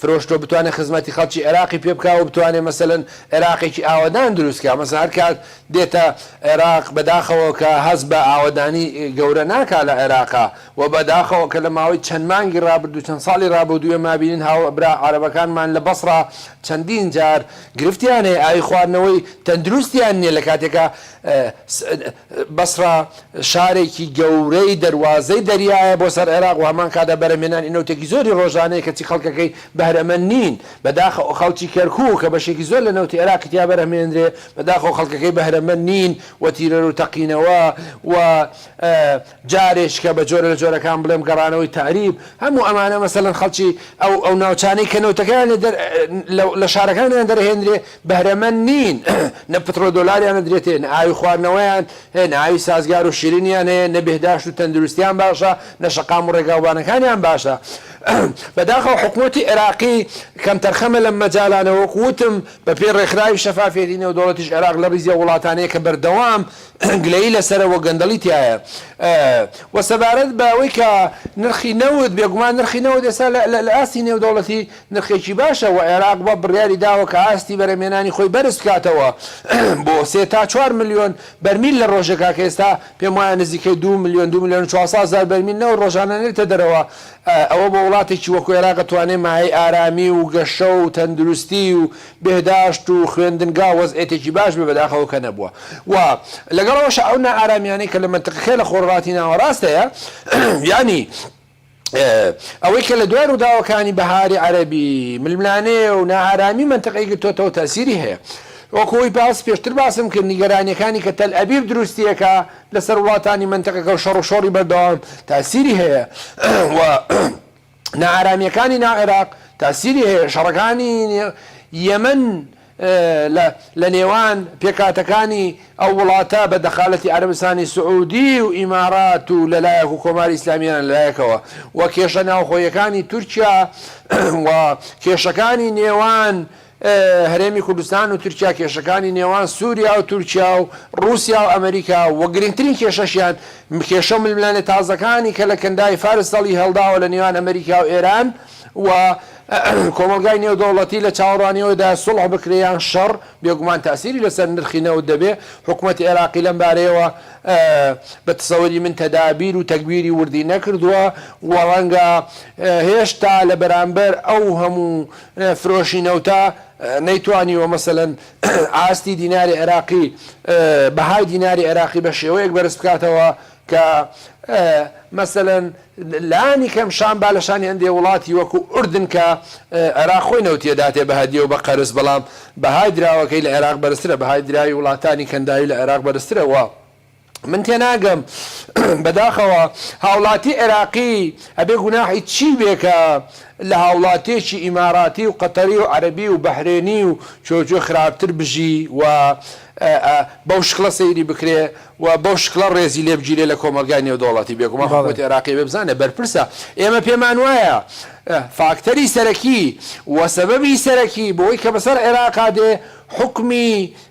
فرۆشتۆ بتوانێ خزمەتی خەڵکی عێراقی پێ بکا و بتوانێ مەسەلەن عێراقێکی ئاوەدان دروست کا مەسەن هەر کات دێتە عێراق بەداخەوە کە هەست بە ئاوەدانی گەورە ناکا لە عێراقا و بەداخەوە کە لە ماوەی چەند مانگی ڕابردوو چەند ساڵی ڕابودوو ئێمە ئەبینین هاوبرا عەرەبەکانمان لە بەسڕا چەندین جار گرفتیان هەیە ئاوی خواردنەوەی تەندروستیان نیە لە کاتێکا بەسڕە شارێکی گەورەی دەروازەی دەریایە بۆ سەر عێراق و هەمان کاتدا بەرەمێنانی نەوتێکی زۆری ڕۆژانەیە کەچی خەڵکەکەی بەهرەمەند نین بەداخ خەڵکی کەرکوک کە بەشێکی زۆر لە نەوتی عێراقی تیا بەرهمێندرێ بەداخەوە خەڵکەکەی بەهرەمەند نین و تیرەرو تەقینەوە و جارێکیکە بە جۆرە لە جۆرەکان بڵێم گەڕانەوەی تەعریب، هەموو ئەمانە مەسەلەن خەڵکی ئەو ئەو ناوچانەی کە نەوتەکەیان لێ دەر لە لە شارەکانیان دەرهێنرێ بەهرەمەند نین نە پتڕۆ دۆلاریان ئەدرێتێ نە ئاوی خواردنەوەیان هەیە نە ئاوی سازگار و شیرینیان هەیە نە بێهداشت و تەندروستیان باشە نە شەقام و ڕێگاوبانەکانیان باشە بەداخەوە حکومەتی عێراقی کەمتەرخەمە لەم مەجالانە وەکو وتم بە پێی ڕێکخراوی شەفافیەتی نێودەوڵەتیش عێراق لە ڕیزی ئەو وڵاتانەیە کە بەردەوام گلەیی لەسەرە وە گەندەڵی تیایە ئە وە سەبارەت بە وەی کە نرخی نەوت بێگومان نرخی نەوت ئێسا لە لە ئاستی نێودەوڵەتی نرخێکی باشە وە عێراق بە بڕیاری داوە کە ئاستی بەرەمێنانی خۆی بەرز بکاتەوە بۆ سێ تا چوار ملیۆن بەرمیل لە ڕۆژێکا کە ئێستا پێم وایە نزیکەی دوو ملیۆن دوو ملیۆن و چوار سەد هەزار بەرمیل نەوت ڕۆژانە نێرێتە دەرەوە ئەوە بۆ وڵاتێکی وەکو عێراق توانێ مایەی ئارامی و گەشە و تەندروستی و بێهداشت و خوێندنگا وەزعێتێکی باش بێ بەداخەوە کە نەبووە و لەگەڵ ئەوەشا ئەو نائارامیانەی کە لە مەنتقەکەی لە خۆرهەڵاتی ناوەڕاست هەیە یانی ئەوەی کە لە دوای ڕووداوەکانی بەهاری عەرەبی ململانێ و نائارامی مەنتقەی گرتۆتەوە تەسیری هەیە وەکو ئەوی باس پێشتر باسم کرد نیگەرانیەکانی کە تەل ئەبیب دروستیەکە لەسەر وڵاتانی مەنتقەکە و شەڕوشۆڕی بەردەوام تاسیری هەیە و نائارامییەکانی ناو عێراق تاسیری هەیە، شەڕەکانی یەمەن لە نێوان پێکهاتەکانی ئەو وڵاتە بە دەخالەتی عەرەبستانی سعوودی و ئیمارات و لەلایەک و کۆماری ئیسلامی ئێران لەلایەکەوە و کێشە ناوخۆیەکانی تورکیا و کێشەکانی نێوان هەرێمی کوردستان و تورکیا کێشەکانی نێوان سوریا و تورکیا و ڕوسیا و ئەمریکا و گرنگترین کێشەشیان کێشە و ململانێ تازەکانی کە لە کەنداوی فارس سەڵی هەڵداوە لە نێوان ئەمریکا و ئێران و کۆمەڵگای نێودەوڵەتی لە چاوەڕوانیەوەدایە سوڵح بکرێ یان شەڕ بێگومان تاسیری لەسەر نرخی نەوت دەبێ حکومەتی عێراقی لەم بارەیەوە بە تەسەوری من تەدابیر و تەگبیری وردی نەکردوە و ڕەنگە هێشتا لە بەرامبەر ئەو هەموو فرۆشی نەوتە نەیتوانیوە مەسەلەن ئاستی دیناری عێراقی بەهای دیناری عێراقی بە شێوەیەک بەرز بکاتەوە کە مەسەلەن لانی کەم شان با لە شانی هەندێ وڵاتی وەکو ئوردن کە عێراق خۆی نەوتی ئەداتێ بە هەدیە و بە قەرز بەڵام بەهای دراوەکەی لە عێراق بەرزترە بەهای دراوی وڵاتانی کەنداوی لە عێراق بەرزترە و من تێناگەم بەداخەوە هاوڵاتی عێراقی ئەبێ گوناحی چی بێ کە لە هاوڵاتیەکی ئیماراتی و قەتەری و عەرەبی و بەحرێنی و چۆ چۆ خراپتر بژی و بەو شکڵە سەیری بکرێ و بەو شکڵە ڕێزی لێ بگیرێ لە کۆمەڵگای نێودەوڵەتی بێگومان حکومەتی عێراقی ئەبێ بزانێ بەرپرسە ئێمە پێمان وایە فاکتەری سەرەکی و سەبەبی سەرەکی بۆی کە بەسەر عێراقا دێ حوکمی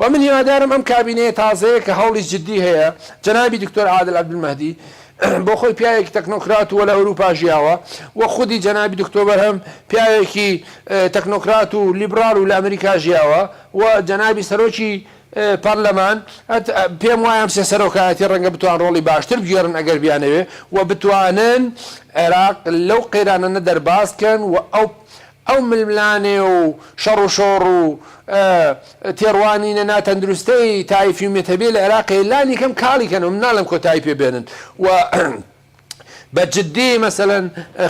وە من هیوادارم ئەم کابینەیە تازەیە کە هەوڵی جدی هەیە جەنابی دکتۆر عادل عەبدولمەهدی بۆ خۆی پیاوێکی تەکنۆکرات و لە ئەوروپا ژیاوە وە خودی جەنابی دکتۆ بەرهەم پیاوێکی تەکنۆکرات و لیبڕال و لە ئەمریکا ژیاوە و جەنابی سەرۆکی پەرلەمان پێم وایە ئەم سێ سەرۆکایەتی ڕەنگە بتوان ڕۆڵی باشتر بگێڕن ئەگەر بیانەوێ و بتوانن عێراق لەو قەیرانانە دەرباز کەن و ئەو ئەو ململانێ و شەڕ و شۆڕ و تێڕوانینە ناتەندروستەی تائیفی و مەتەبیە لە عێراقێ لانی کەم کاڵی کەن و من ناڵێم کۆتایی پێ بێنن و بە جدی مەسەلەن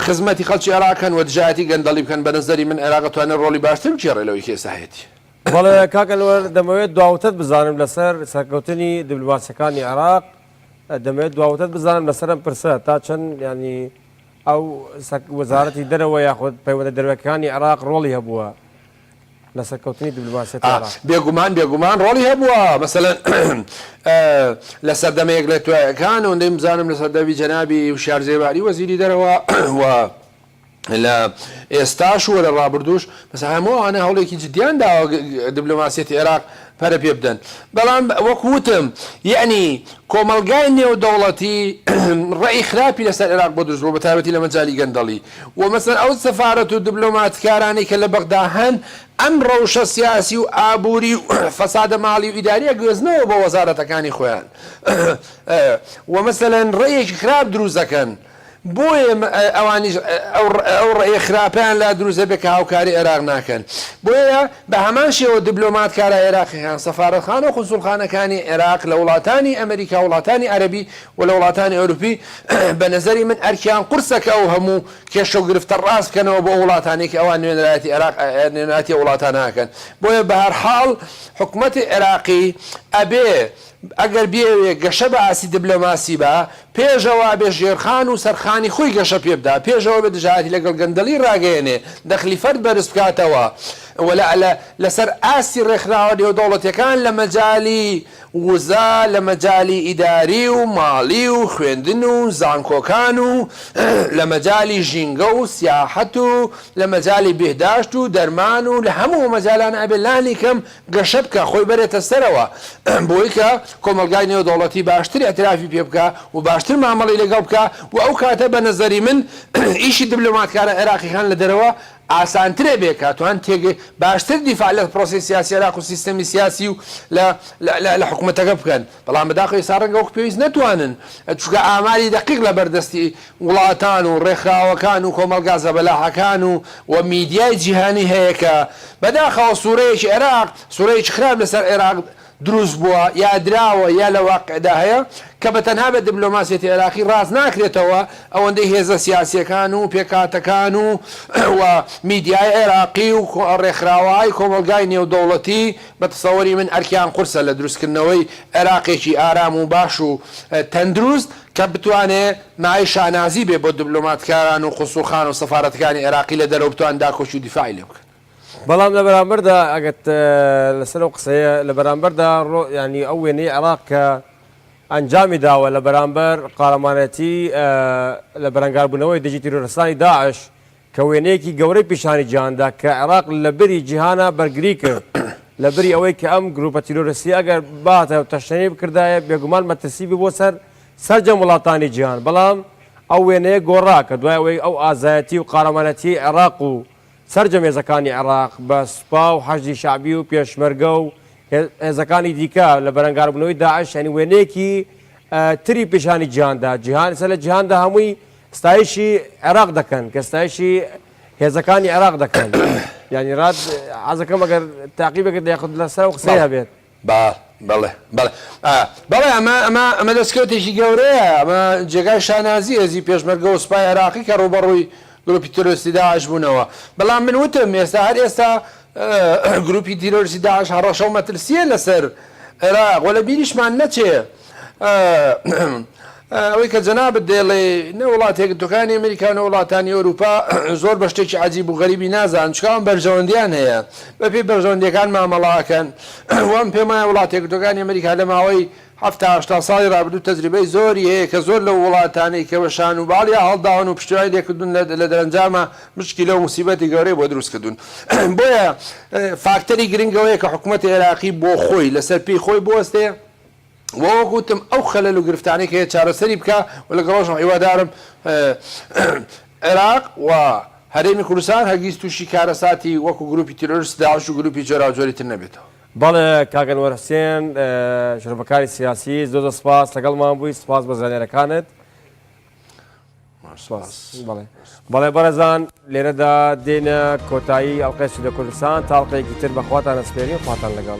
خزمەتی خەڵکی عێراق کەن و دژایەتی گەندەڵی بکەن بە نەزەری من عێراق ئەتوانێ ڕۆڵی باشتر بگێڕێ لەوەی کە ئێستا هەیەتی. بەڵێ کاک ئەنوەر دەمەوێت دواوتەت بزانم لەسەر سەرکەوتنی دبلۆماسیەکانی عێراق دەمەوێت دواوتەت بزانم لەسەر ئەم پرسە تا چەند یانی ئەو وەزارەتی دەرەوە یاخود پەیوەندە دەروەکانی عێراق ڕۆڵی هەبووە لە سەرکەوتنی دبلۆماسیەتی عێراق؟ بێگومان بێگومان ڕۆڵی هەبووە مەسەلەن لە سەردەمە یەک لە توایەکان ئەوەندەی بزانم لە سەردەمی جەنابی وشیار زێباری وەزیری دەرەوە و لە ئێستاش و لە ڕابردووش مەسەلەن هەموو ئەوانە هەوڵێکی جدیان داوە دبلۆماسیەتی عێراق پەرە پێ بدەن، بەڵام وەک وتم یەعنی کۆمەڵگای نێودەوڵەتی ڕەئی خراپی لەسەر عێراق بۆ دروست بووە بە تایبەتی لە مەجالی گەندەڵی و مەسەلەن ئەو سەفارەت و دبلۆماتکارانەی کە لە بەغدا هەن ئەم ڕەوشە سیاسی و ئابووری و فەسادە ماڵی و ئیداریە گوێزنەوە بۆ وەزارەتەکانی خۆیان و مەسەلەن ڕەیەکی خراپ دروست دەکەن. بۆیە ئەوانیش ئەو ڕێی خراپەیان لا دروست دەبێت کە هاوکاری عێراق ناکەن. بۆیە بە هەمان شێوە دبلۆمات کارە عێراقیەکان، سەفارەتخانە و قونسوڵخانەکانی عێراق لە وڵاتانی ئەمریکا و وڵاتانی عەرەبی و لە وڵاتانی ئەوروپی، بە نەزەری من ئەرکیان قورسە کە ئەو هەموو کێشە و گرفتە ڕاست بکەنەوە بۆ ئەو وڵاتانەی کە ئەوان نوێنەرایەتی عێراق نوێنەرایەتی ئەو وڵاتانە ئەکەن. بۆیە بە هەر حاڵ حکومەتی عێراقی ئەبێ. ئەگەر بیەوێ گەشە بە ئاستی دبلۆماسی با، پێشەوە ئەبێ ژێرخان و سەرخانی خۆی گەشە پێ بدا، پێشەوە ئەبێ دژایەتی لەگەڵ گەندەڵی ڕاگەیەنێ، دەخلی فەرد بەرز بکاتەوە و لە لە لە سەر ئاستی ڕێکخراوە نێودەوڵەتیەکان لە مەجالی وزە، لە مەجالی ئیداری و ماڵی و خوێندن و زانکۆکان و لە مەجالی ژینگە و سیاحەت و لە مەجالی بهداشت و دەرمان و لە هەموو ئەو مەجالانە ئەبێ لانی کەم گەشە بکا خۆی بەرێتە سەرەوە بۆی کە کۆمەڵگای نێودەوڵەتی باشتر ئیعترافی پێ بکا و باشتر مامەڵەی لەگەڵ بکا و ئەو کاتە بە نەزەری من ئیشی دبلۆماتکارە عێراقیەکان لە دەرەوە ئاسانتر ئەبێ کە توان تێگ باشتر دیفاع لە پرۆسەی سیاسی عێراق و سیستەمی سیاسی و لە لە لە حکومەتەکە بکەن. بەڵام بەداخەوە ئێستا ڕەنگە وەک پێویست نەتوانن، چونکە ئاماری دەقیق لەبەر دەستی وڵاتان و ڕێکخراوەکان و کۆمەڵگا زەبەلاحەکان و و میدیای جیهانی هەیە کە بەداخەوە سوورەیەکی عێراق، سوورەیەکی خراپ لەسەر عێراق دروست بووە یا دراوە یا لە واقیعدا هەیە کە بە تەنها بە دبلۆماسیەتی عێراقی ڕاست ناکرێتەوە ئەوەندەی هێزە سیاسیەکان و پێکهاتەکان و و میدیای عێراقی و ڕێکخراوەهای کۆمەڵگای نێودەوڵەتی بە تەسەوری من ئەرکیان قورسە لە دروستکردنەوەی عێراقێکی ئارام و باش و تەندروست کە بتوانێ مایەی شانازی بێ بۆ دبلۆماتکاران و قونسوڵخانە و سەفارەتەکانی عێراقی لە دەرەوە بتوانن داکۆکی و دیفاعی لێ بکەن. بەڵام لە بەرامبەردا ئەگەر لەسەر ئەو قسەیە لە بەرامبەردا یانی ئەو وێنەی عێراق کە ئەنجامی داوە لە بەرامبەر قارەمانەتی لە بەرەنگاربوونەوەی دژی تیرۆرستانی داعش کە وێنەیەکی گەورەی پیشانی جیهان دا کە عێراق لە بری جیهانا بەرگری کرد لە بری ئەوەی کە ئەم گرووپە تیرۆرستیە ئەگەر بهاتایە و تەشنەی بکردایە بێگومان مەترسی بوو بۆ سەر سەرجەم وڵاتانی جیهان بەڵام ئەو وێنەیە گۆڕا کە دوای ئەوەی ئەو ئازایەتی و قارەمانەتیەی عێراق و سەرجەم هێزەکانی عێراق بە سوپا و حەشدی شەعبی و پێشمەرگە و هێزەکانی دیکە لە بەرەنگاربوونەوەی داعش یانی وێنەیەکی تری پیشانی جیهان دا جیهان ئیستا لە جیهاندا هەمووی ستایشی عێراق دەکەن کە ستایشی هێزەکانی عێراق دەکەن یانی رات عزەکەم ئەگەر تاقی بکرد یاخود لە سەر قسەی هەبێت با بەڵێ بەڵێ بەڵێ ئەمە ئەمە ئەمە دەستکەوتێکی گەورەیە ئەمە جێگای شانازی هێزی پێشمەرگە و سوپای عێراقی کە ڕوبەڕووی گروپی تۆرستی داعش بوونەوە بەڵام من وتم ئێستا هەر ئێستا گروپی تیرۆرسی داعش هەڕەشە و مەترسیە لەسەر عێراق وە لە بیریشمان نەچێ ئەوەی کە جەنابت دەیڵێ نە وڵاتە یەکگرتووەکانی ئەمریکا و نە وڵاتانی ئەوروپا زۆر بە شتێکی عەجیب و غەریبی نازانن، چونکە ئەوان بەرژەوەندییان هەیە، بە پێی بەرژەوەندییەکان مامەڵە ئەکەن. وام پێم وایە وڵاتە یەکگرتووەکانی ئەمریکا لە ماوەی حەفتا هەشتا ساڵی ڕابردوو تەجریبەی زۆری هەیە کە زۆر لەو وڵاتانەی کە بە شان و باڵیا هەڵداون و پشتیوانی لێ کردوون لە دەرەنجامە مشکیلە و موسیبەتی گەورەی بۆ دروست کردوون. بۆیە فاکتەری گرنگ ئەوەیە کە حکومەتی عێراقی بۆ خۆی لە سەر پێی خۆی بوەستێ، وە وەک وتم ئەو خەلەل و گرفتانەی کە هەیە چارەسەری بکا و لەگەڵ ئەوەشم هیوادارم عێراق و هەرێمی کوردستان هەرگیز تووشی کارەساتی وەکو گرووپی تیرۆرستی داعش و گرووپی جۆراوجۆری تر نەبێتەوە. بەڵێ کاک ئەنوەر حوسێن شرۆڤەکاری سیاسی زۆر زۆر سپاس لەگەڵمان بووی سپاس بۆ زانیارەکانت سپاس بەڵێ بەڵێ بەڕێزان لێرەدا دێنە کۆتایی ئەڵقەی سودە کوردستان تا ئەڵقەیەکی تر بەخواتان ئەسپێرین خواتان لەگەڵ.